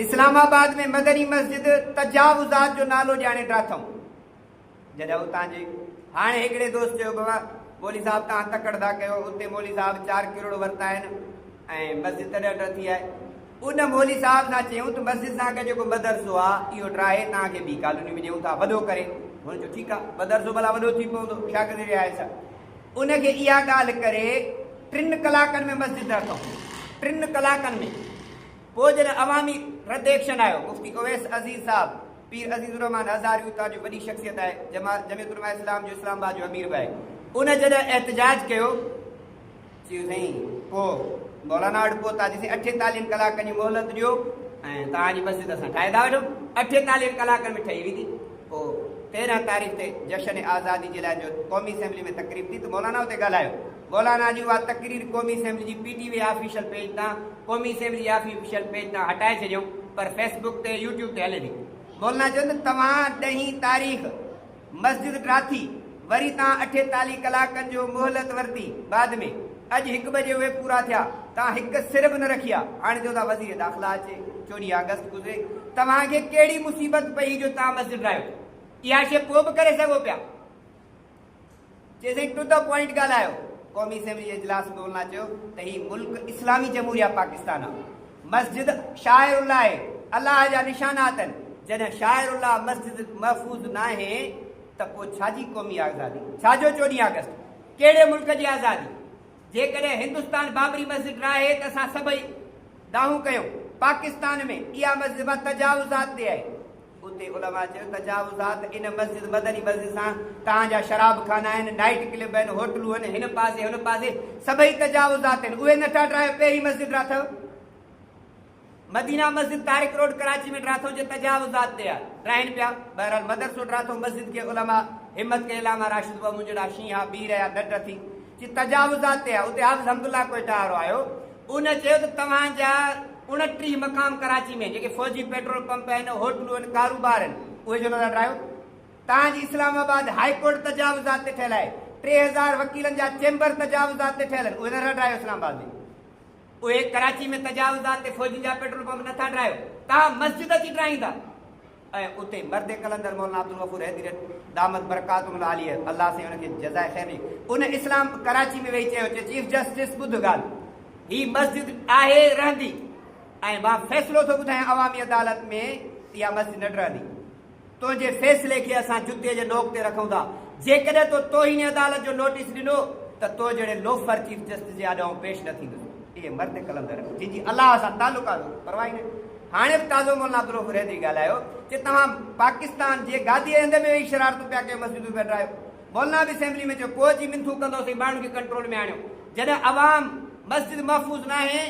اسلام آباد ۾ مدني مسجد تجاوزات جو نالو ڄاڻي ڊاٿم جڏهن اتان جي هاڻي هڪڙي دوست چيو بابا مولي صاحب توهان تڪڙ ٿا ڪيو اتي مولي صاحب چار ڪروڙ ورتا آهن ۽ مسجد تڏهن ڊر ٿي آهي ان مولي صاحب سان چيون ته مسجد سان گڏ جيڪو مدرسو آهي اهو ڊراهي توهان کي ٻي ڪالوني ۾ ڏيون ٿا وڏو ڪري هن چيو ٺيڪ آهي مدرسو ڀلا وڏو ٿي پوندو ڇا ڪري رهيا آهيو ان کي اها ڳالهه ڪري ٽن ڪلاڪن ۾ مسجد ڊاٿم ٽن ڪلاڪن ۾ پوء جڏهن عوامي رد ايڪشن آيو، مفتي اويس عزيز صاحب، پير عزيز الرحمان هزاري اتان جو وڏي شخصيت آهي، جمعيت علماء اسلام جو اسلام آباد جو امير به آهي، ان جڏهن احتجاج ڪيو، چيو سائين پوء مولانا وٽ پهتا چيسين اٺيتاليهن ڪلاڪن جي مهلت ڏيو ۽ توهان جي مسجد اسان ٺاهي ٿا وٺون، اٺيتاليهن ڪلاڪن ۾ ٺهي ويندي، پوء تيرهن تاريخ تي جشن آزادي جي لاء جو قومي اسيمبلي ۾ تقريب ٿي ته مولانا اتي ڳالهايو. مولانا جي اها تقرير قومي اسيمبلي جي P T V official page تان قومي اسيمبلي جي آفيشل پيج تان هٽائي ڇڏيائون پر فيس بڪ تي يوٽيوب تي هلي ٿي. مولانا چيو ته توهان ڏهين تاريخ مسجد ڊاٿي وري تان اٺيتاليهه ڪلاڪن جو مهلت ورتي بعد ۾ اڄ هڪ بجي اهي پورا ٿيا تان هڪ سر به نه رکي آ هاڻي چئو ٿا وزير داخلا اچي چوريهه آگسٽ گذري توهان کي ڪهڙي مصيبت پئي جو تان مسجد ڊاهيو اها شي پوء به ڪري سگهو پيا. چيزنگ ٽو دي پوائنٽ ڳالهايو. قومي اسيمبلي جي اجلاس ۾ بولندان چيو ته هي ملڪ اسلامي جمهوريه پاڪستان آ، مسجد شاعر الله اهي الله جا نشانات اهن، جڏهن شاعر الله مسجد محفوظ ناهي ته پوء ڇا جي قومي آزادي، ڇا جو چوڏهين آگسٽ، ڪهڙي ملڪ جي آزادي؟ جيڪڏهن هندستان بابري مسجد ناهي ته اسان سڀئي دانهون ڪيون، پاڪستان ۾ اها مسجد به تجاوزات تي آهي. اتي علماء چيو تجاوزات ان مسجد مدني مسجد سان تان جا شراب خانا آهن نائيٽ ڪلب آهن هوٽلون آهن هن پاسي هن پاسي سڀئي تجاوزات آهن اهي نه ٿا ڊرايو پهرين مسجد را ٿو مدينه مسجد تارڪ روڊ ڪراچي ۾ ڊرا ٿو جي تجاوزات تي ڊراهن پيا بهرحال مدرسو ڊرا ٿو مسجد کي علماء همت کي علامه راشد بابو جهڙا شينها بي رهيا ڏٽ ٿي جي تجاوزات تي آهي اتي حافظ حمد الله ڪوئيٽا وارو آيو ان چيو ته توهان جا اڻٽيهه مقام ڪراچي ۾ جيڪي فوجي پيٽرول پمپ آهن هوٽلون آهن ڪاروبار آهن اهي ڇو نٿا ٽاهيو توهان جي اسلام آباد هائي ڪورٽ تجاوزات تي ٺهيل آهي ٽي هزار وڪيلن جا چيمبر تجاوزات تي ٺهيل آهن اهي نٿا ٽاهيو اسلام آباد ۾ اهي ڪراچي ۾ تجاوزات تي فوجين جا پيٽرول پمپ نٿا ٽاهيو توهان مسجد اچي ٽاهيندا ۽ اتي مرد قلندر مولانا عبدالغفور حيدري دامت برڪاتهم العاليه الله سائين ان کي جزاء خير ڏي ان اسلام ڪراچي ۾ ويهي چيو چي چيف جسٽس ٻڌ ڳالهه هي مسجد آهي رهندي ۽ مان فيصلو ٿو ٻڌايان عوامي عدالت ۾ اها مسجد نه ٽهندي تنهنجي فيصلي کي اسان جتي جي نوڪ تي رکون ٿا جيڪڏهن تو توهين عدالت جو نوٽيس ڏنو ته تو جهڙي لوفر چيف جسٽس جي آڏو آئون پيش نه ٿيندس اهي مرد قلندر جن جي الله سان تعلقات پرواهي نه هاڻي به تازو مولانا عبدالرؤف رحدري ڳالهايو چي توهان پاڪستان جي گاديء هنڌ به ويهي شرارتون پيا ڪيو مسجدون پيا ڊاهيو. مولانا به اسيمبلي ۾ چيو ڪوهه جي منٿون ڪندوسين ماڻهن کي ڪنٽرول ۾ آڻيو جڏهن عوام مسجد محفوظ ناهي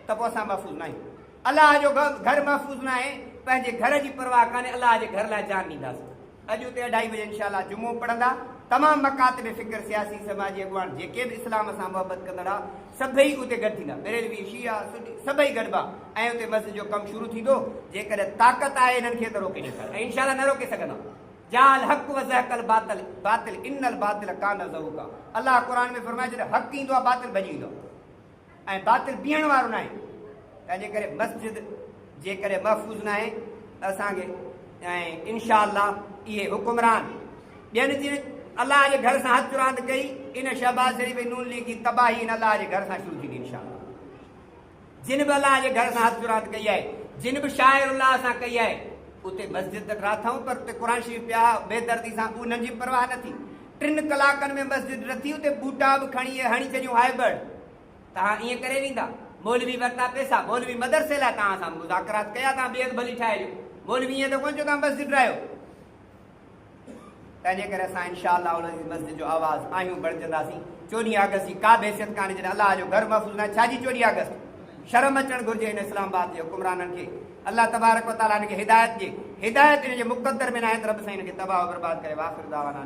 ته پوء اسان محفوظ ناهيون الله جو گهر محفوظ ناهي پنهنجي گهر جي پرواهه ڪانهي الله جي گهر لاء جان ڏينداسين. اڄ اتي اڍائي بجي انشاء الله جمعو پڙهندا تمام مڪاتب فڪر سياسي سماجي اڳواڻ جيڪي به اسلام سان محبت ڪندڙ آ سڀئي اتي گڏ ٿيندا بريلوي شيعا سني سڀئي گڏبا ۽ اتي مسجد جو ڪم شروع ٿيندو جيڪڏهن طاقت آهي انهن کي ته روڪي ڏيکار ۽ انشاء الله نه روڪي سگهندا جاء الحق وزهق الباطل باطل ان الباطل ڪان زهوقا الله قرآن ۾ فرمائي ڇڏيو حق ايندو آ باطل ڀڄي ويندو آ. ۽ باطل بيهڻ وارو ناهي، تنهن جي ڪري مسجد جي ڪري محفوظ ناهي ته اسان کي ۽ انشاء الله اهي حڪمران ٻين جن الله جي گهر سان هٿ راند ڪئي ان شهباز شريف ۽ نون ليگ جي تباهي ان الله جي گهر سان شروع ٿيندي انشاء الله جن به الله جي گهر سان هٿ راند ڪئي آهي جن به شاعر الله سان ڪئي آهي اتي مسجد ته ٽراٿائون پر اتي قرآن شريف پيا بيدردي سان انهن جي پرواهه نه ٿي ٽن ڪلاڪن ۾ مسجد رٿي اتي ٻوٽا به کڻي اهي هڻي ڇڏيون هائي برڊ توهان ائين ڪري ويندا مولوي ورتا پيسا مولوي مدرسي لاء توهان سان مذاڪرات ڪيا توهان بيگ ڀلي ٺاهي ڏيو مولوي ائين ته ڪونه چيو توهان مسجد رهيو تنهنجي ڪري اسان انشاء الله العزيز مسجد جو آواز آهيون بڻجنداسين چوڏهين آگسٽ جي ڪا به حيثيت ڪانه جڏهن الله جو گھر محفوظ نه ڇا جي چوڏهين آگسٽ شرم اچڻ گھرجي هن اسلام آباد جي حڪمرانن کي الله تبارڪ وتعالى هن کي هدايت ڏي هدايت هن جي مقدر ۾ نه آهي ته رب سائين هن کي تباهه برباد ڪري واخر دعوانا